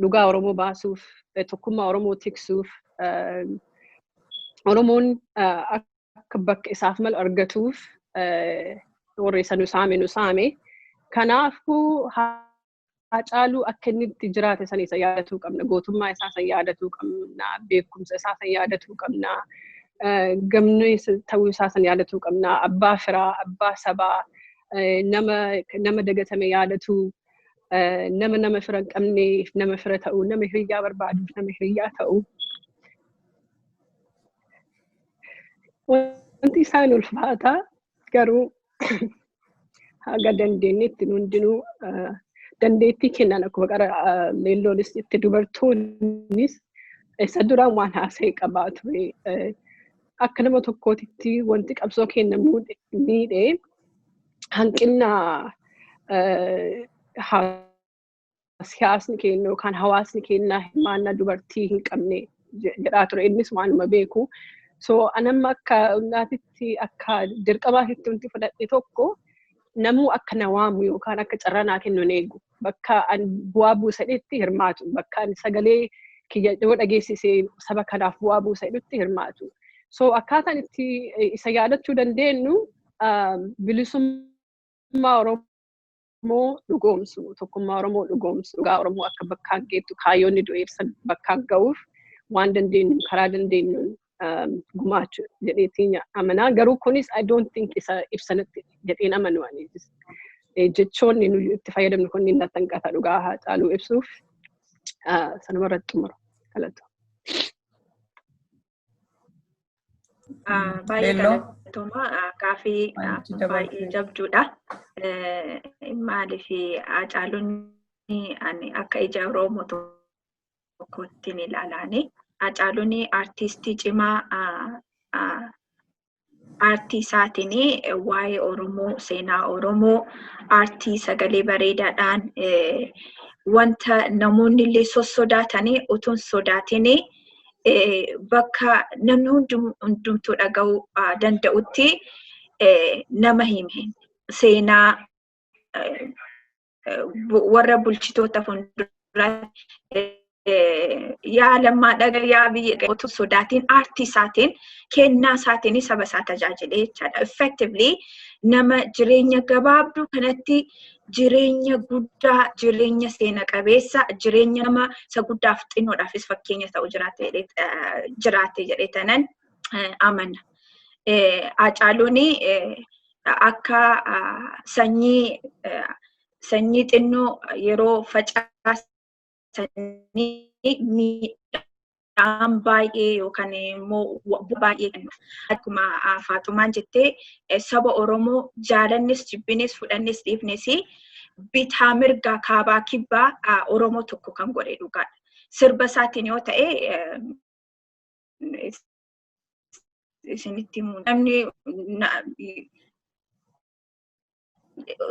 dhugaa Oromoo baasuuf, tokkummaa Oromoo tiksuuf, Oromoon akka bakka isaaf malu argatuuf warri isa nu saame nu saame. Kanaafuu Haacaaluu akka inni itti jiraate san isa yaadatuu qabna. Gootummaa isaa san yaadatuu qabna. Beekumsa isaa san yaadatuu qabna. Gamnee ta'uu isaa san yaadatuu qabna. Abbaa firaa, abbaa sabaa, nama dagatame yaadatuu, nama nama fira hin qabneef nama fira ta'uu, nama hiriyyaa barbaaduuf nama hiriyyaa ta'uu. Wanti isaan ulfaataa garuu haga dandeenyetti nu hundinuu ah, dandeettii kennaan akkuma qara ah, leelloonis itti dubartoonnis isa duraan waan haasa'e qabaa ture. Eh, Akka nama tokkootitti wanti qabsoo kenna muude- miidhe hanqina eh, haa siyaasni keenya yookaan hawaasni keenya hirmaannaa dubartii hin qabne je- jedhaa ture innis waanuma beeku. So anamma akka naatitti akka dirqamaatitti wanti fudhadhe tokko namuu akka na waamu yookaan akka carraa naa kennu hin eegu. Bakka an bu'aa buusadhetti hirmaatu. Bakka an sagalee kiyya yoo dhageessise saba kanaaf bu'aa buusadhetti hirmaatu. So akkaataan itti eh, isa yaadachuu dandeenyu ah, bilisummaa Oromoo Oromoo dhugoomsu, tokkummaa Oromoo dhugoomsu, dhugaa Oromoo akka bakkaan geettu, kaayyoonni du'eessa bakkaan ga'uuf waan dandeenyu karaa dandeenyuun gumaachu jedheetiin amanaa. Garuu kunis I don't think isa ibsanatti jedheen amanu ani. Jechoonni nuyi itti fayyadamnu kun inni natti hanqata dhugaa haa caaluu ibsuuf sanuma irratti xumura. Galatoom. Baay'ee galatoomaa gaaffii baay'ee jabduudha. Maaliif Hacaaluunni ani akka ija Oromoo tokkotti ni ilaalaani. Hacaaluunni artistii cimaa aartii isaatiin waa'ee Oromoo, seenaa Oromoo, aartii sagalee bareedaadhaan wanta namoonni illee sossodaatanii utuun sodaatiin bakka namni hundumtuu dhaga'uu danda'utti nama hime. Seenaa warra bulchitoota fuulduraatti yaa lammaa dhaga yaa biyya qeetu sodaatiin aartii isaatiin kennaa isaatiin saba isaa tajaajilee jechaadha. Effectively nama jireenya gabaabduu kanatti jireenya guddaa, jireenya seena qabeessa, jireenya nama isa guddaaf xinnoodhaafis fakkeenya ta'u jiraate jedhee tanan amana. Hacaaluun akka sanyii sanyii xinnoo yeroo facaasanii miidhaan baay'ee yookaan immoo baay'ee kennuuf. Akkuma Faaxumaan jettee saba Oromoo jaalannis jibbinis fudhannis dhiifnis bitaa mirgaa kaabaa kibbaa Oromoo tokko kan godhe dhugaadha. Sirba isaatiin yoo ta'e isinitti himu. Namni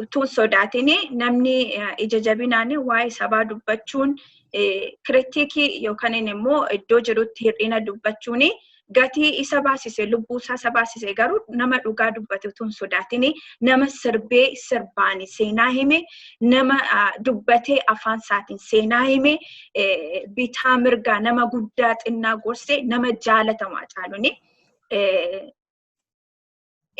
utuu sodaatiin namni ija jabinaan waa'ee sabaa dubbachuun kiritikii yookaan immoo iddoo jirutti hir'ina dubbachuun gatii isa baasise lubbuu isaa isa baasise garuu nama dhugaa dubbate utuu hin sodaatiin nama sirbee sirbaani seenaa hime nama dubbatee afaan isaatiin seenaa hime bitaa mirgaa nama guddaa xinnaa gorsee nama jaalatamu Hacaaluun.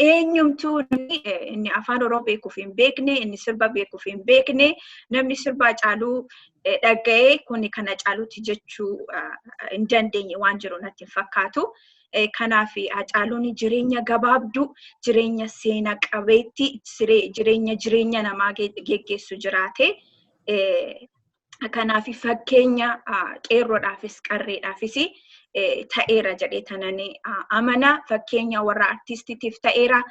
Eenyumtuu namni inni afaan Oromoo beekuuf hin beekne, inni sirba beekuuf hin beekne, namni sirba Hacaaluu dhaga'ee kuni kan Hacaaluuti jechuu hin dandeenye waan jiru natti hin fakkaatu. Kanaaf Hacaaluun jireenya gabaabduu, jireenya seena qabeetti, jireenya jireenya namaa geggeessu jiraate. Kanaaf fakkeenya qeerroodhaafis qarreedhaafis ta'eera jedhee tanan amana. Fakkeenya warra artiistiitiif ta'eera.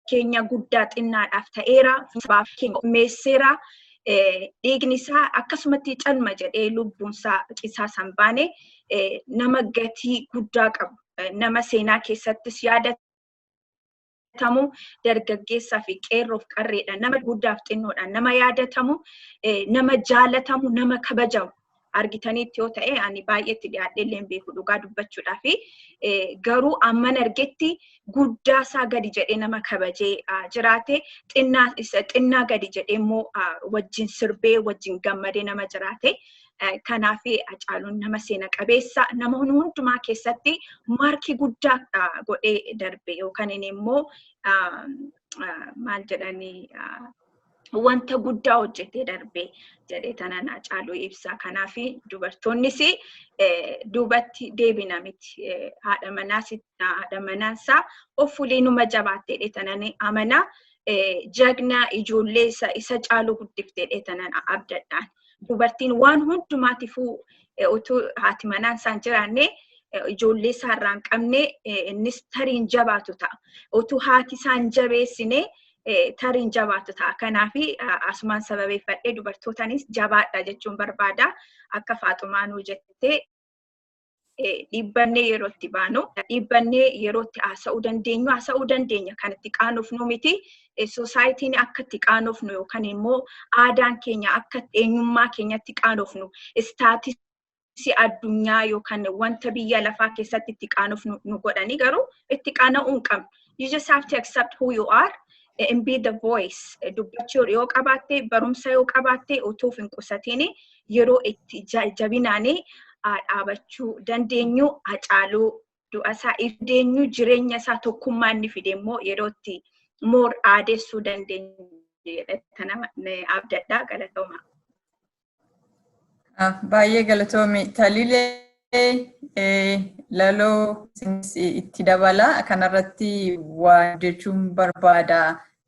keenya guddaa xinnaadhaaf ta'eera sabaaf keenya meesseera dhiigni isaa akkasumatti calma jedhee lubbuun isaa cisaa san baane nama gatii guddaa qabu nama seenaa keessattis yaadatamu dargaggeessaa fi qeerroof qarreedha nama guddaaf xinnoodha nama yaadatamu nama jaalatamu nama kabajamu argitaniitti yoo ta'e ani baay'eetti dhiyaadhee illee hin beeku dhugaa dubbachuudhaa fi garuu amman argetti guddaa isaa gadi jedhee nama kabajee jiraate xinnaa gadi jedhee immoo wajjin sirbee wajjin gammadee nama jiraate. Kanaaf Hacaaluun nama seena qabeessa nama hundumaa keessatti maarkii guddaa godhee darbe yookaan immoo maal jedhanii wanta guddaa hojjetee darbee jedhee tanan Hacaaluu ibsa. Kanaaf dubartoonnis duubatti deebina miti. Haadha manaa isaa of fuulee numa jabaattee jedhee tanan amana. Jagna ijoollee isa caalu guddiftee jedhee tanan abdadhaan. Dubartiin waan hundumaatifuu utuu haati manaan isaan jiraanne ijoollee isaarraa hin qabne innis tariin jabaatu ta'a. Utuu haati isaan jabeessine tariin jabaatu ta'a. Kanaaf asumaan sababeeffadhee dubartootanis jabaadha jechuun barbaada. Akka faaxumaa nuu jettee dhiibbannee yeroo itti baanu dhiibbannee yeroo itti haasa'uu dandeenyu haasa'uu dandeenya kan itti qaanofnu miti soosaayitiin akka itti qaanofnu yookaan immoo aadaan keenya akka eenyummaa keenyatti qaanofnu istaatis si addunyaa yookaan wanta biyya lafaa keessatti itti qaanuuf nu, nu godhanii garuu itti qaana'uu hin qabnu. You just have to accept who you are and be the voice. Dubbachuu yoo qabaatte, barumsa yoo qabaatte utuuf hin qusatiin yeroo itti ja- jabinaanii haa dhaabachuu dandeenyu haa caaluu du'a isaa if deenyu jireenya isaa tokkummaa inni fide immoo yeroo itti moor aadessuu dandeenyu jedhee nama abdadhaa galatoomaa. Baay'ee galatoomi. Talilee laloo itti dabala. Kanarratti waa jechuun barbaada.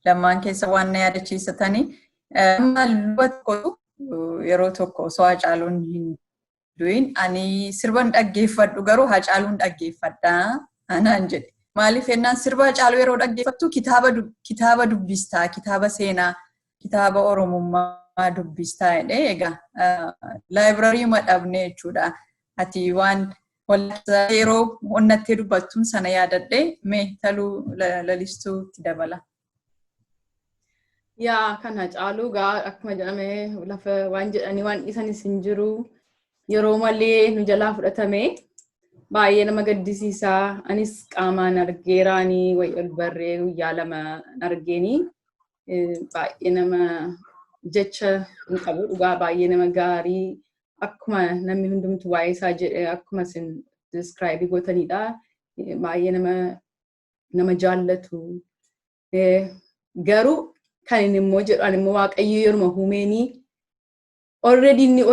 Lamaan keessa waan na yaadachiisatanii. Amma luba tokkotu yeroo tokko osoo Hacaaluun hin du'in ani sirban dhaggeeffadhu garuu Hacaaluun dhaggeeffadha anaan jedhe. Maaliif jennaan sirba Hacaaluu yeroo dhaggeeffattu kitaaba dubbista kitaaba seenaa kitaaba Oromummaa dubbistaa jedhee egaa laayibirarii madhabnee jechuudha. Ati waan yeroo onnattee dubbattuun sana yaadadhee mee taluu lalistuu itti dabala. Yaa kana caaluu gaa akkuma jedhame lafa waan jedhanii waan dhiisanis hin jiru. Yeroo malee nu jalaa fudhatame baay'ee nama gaddisiisa. Anis qaamaan argeeraanii wayi ol barree guyyaa lama argeenii. baay'ee nama jecha hin qabu dhugaa baay'ee nama gaarii akkuma namni hundumtu waa'ee isaa jedhe akkuma isin describe gootanidha baay'ee nama nama jaallatu garuu kan inni immoo jedhu ani immoo waaqayyo yeruma humeenii already inni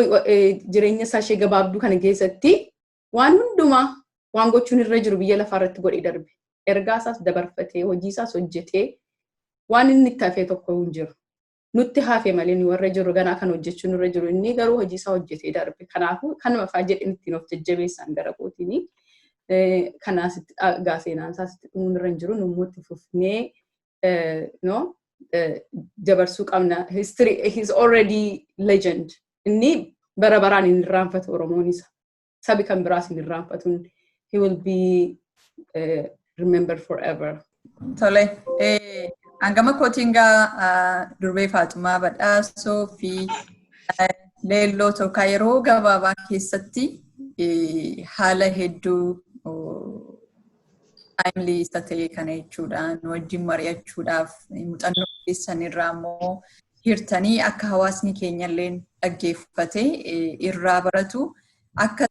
jireenya isaa ishee gabaabduu kana keessatti waan hundumaa waan gochuun irra jiru biyya lafaa irratti godhee darbe. Ergaa isaas dabarfatee, hojii isaas hojjetee waan inni itti hafee tokko hin jiru. Nutti hafe malee nu warra jirru ganaa kan hojjechuu nurra jiru inni garuu hojii isaa hojjetee darbe. Kanaafuu kanuma fa'aa jedhin ittiin of jajjabeessaan gara kootiini. Kanaas itti dhagaa seenaan isaas itti dhumuun irra hin jiru. Nu immoo itti fufnee no dabarsuu qabna. History he is already legend. Inni bara baraan hin irraanfatu Oromoon isa. sabi kan biraa isin irraanfatuun he will be uh, remembered forever. Tole. Hangama kootiin gaa durbee Faaxumaa Badhaasoo fi leelloo tokko yeroo gabaabaa keessatti haala hedduu taayimlii isa ta'e kana jechuudha. Nu wajjin mari'achuudhaaf muuxannoo keessan irraa immoo hirtanii akka hawaasni keenya illee dhaggeeffatee irraa baratu akka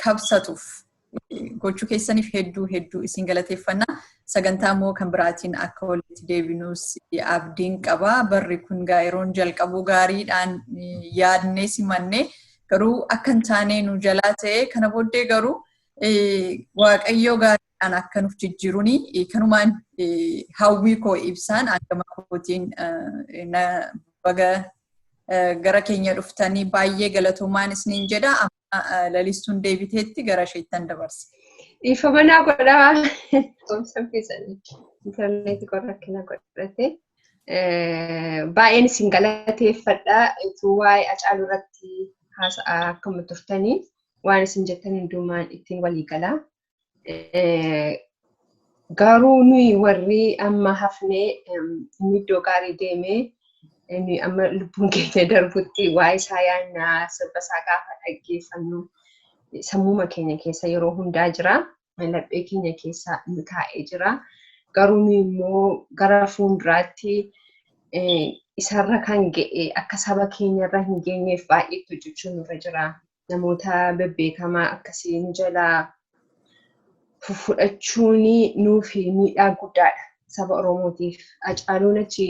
kabsatuuf gochuu keessaniif hedduu hedduu isin galateeffanna. Sagantaa immoo kan biraatiin akka walitti deebinuus abdiin qaba. Barri kun gaa yeroon jalqabuu gaariidhaan yaadnee simannee garuu akka hin taane nu jalaa ta'e kana booddee garuu Waaqayyoo gaariidhaan akka nuuf jijjiiruun kanumaan hawwii koo ibsaan hangama kootiin baga gara keenya dhuftanii baay'ee galatoomaan isiniin jedha. Amma lalistuun deebiteetti gara isheettan dabarsa. Ifa manaa godhaa. Goomsa keessanii intarneetii koo rakkina godhate. Baay'een isin galateeffadha. Utuu waa'ee Hacaaluu irratti haasa'aa akkuma turtanii. waan isin jettan hundumaan ittiin walii gala. Garuu nuyi warri amma hafnee inni iddoo gaarii deemee nuyi amma lubbuun keenya darbutti waa'ee isaa yaannaa sirba isaa gaafa dhaggeeffannu sammuma keenya keessa yeroo hundaa jira. laphee keenya keessa nu taa'ee jira. Garuu nu immoo gara fuulduraatti isarra kan ga'e akka saba keenyarra hin geenyeef baay'ee itti hojjechuun nurra jira. Namoota bebbeekamaa akkasii nu jalaa fudhachuun nuuf miidhaa guddaadha saba Oromootiif. Hacaaluun achi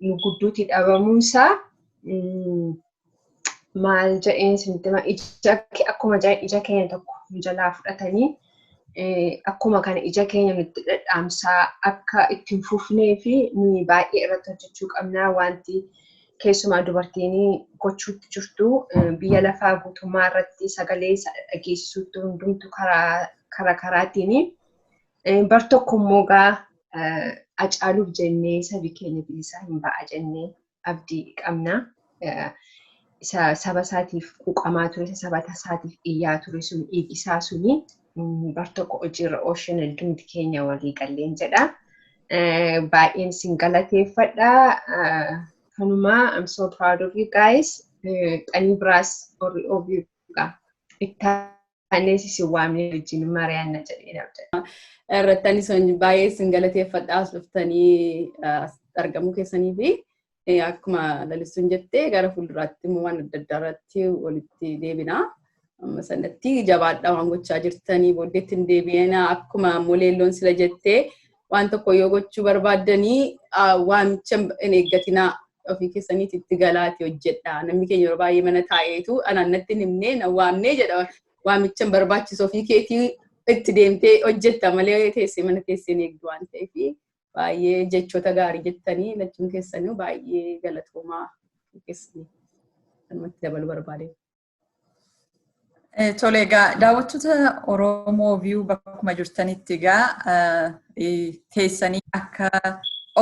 nu gidduutti dhabamuunsaa maal jedheen isinitti hima ija ke- akkuma ja- ija keenya tokko nu jalaa fudhatanii eh, akkuma kana ija keenya nutti dhadhaamsaa akka itti hin fufnee fi nuyi baay'ee irratti hojjechuu qabnaa wanti keessumaa dubartiin gochuutti jirtu eh, biyya lafaa guutummaa irratti sagalee isa dhageessisuutti hundumtu karaa karaa karaatiin eh, bar tokko immoo gaa eh, acaaluuf jennee sabi keenya bilisaa hin ba'a jennee abdii qabna. Isa saba isaatiif quuqamaa ture, isa saba isaatiif iyyaa ture sun dhiigi isaa suni bar tokko hojiirra oolchina hundumti keenya walii galleen jedha. Baay'een isin galateeffadha. Kanumaa I'm so proud of you guys. Qanii biraas warri OBO itti Anis isin waamnee wajjin mari'anna jedheen abdadha. Irratti anis baay'ee isin galateeffadha as dhuftanii argamuu keessanii fi akkuma lalistuun jettee gara fuulduraatti immoo waan adda addaa irratti walitti deebina. Amma sanatti jabaadhaa waan gochaa jirtanii booddeetti hin deebi'ina akkuma immoo leelloon sila jettee waan tokko yoo gochuu barbaaddanii waamicha hin eeggatinaa ofii keessaniiti itti galaati hojjedha. Namni keenya yeroo baay'ee mana taa'eetu anaan natti hin himne na waamne jedha waamicha hin barbaachisu ofii keetii itti deemtee hojjetta malee teessee mana teessee hin eegdu waan ta'eef baay'ee jechoota gaarii jettanii lachuun keessanii baay'ee galatoomaa keessanii kanumatti dabaluu barbaadeen. Tole egaa daawwattoota Oromoo viyuu bakkuma jirtanitti egaa teessanii akka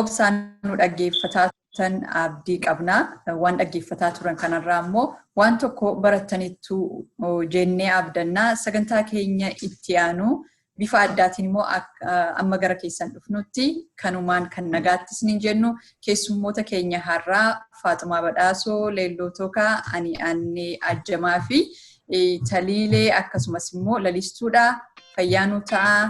obsaan nu dhaggeeffataa turtan abdii qabna. Waan dhaggeeffataa turan kanarraa immoo waan tokko barattaniittu jennee abdannaa sagantaa keenya itti aanu Bifa addaatiin immoo amma gara keessan dhufnutti kanumaan kan nagaatti isiniin jennu keessummoota keenya har'aa Faaxumaa Badhaasoo, Leelloo Tookaa, Ani Annee Ajjamaa fi Taliilee akkasumas immoo lalistuudha. Fayyaa nuu ta'a.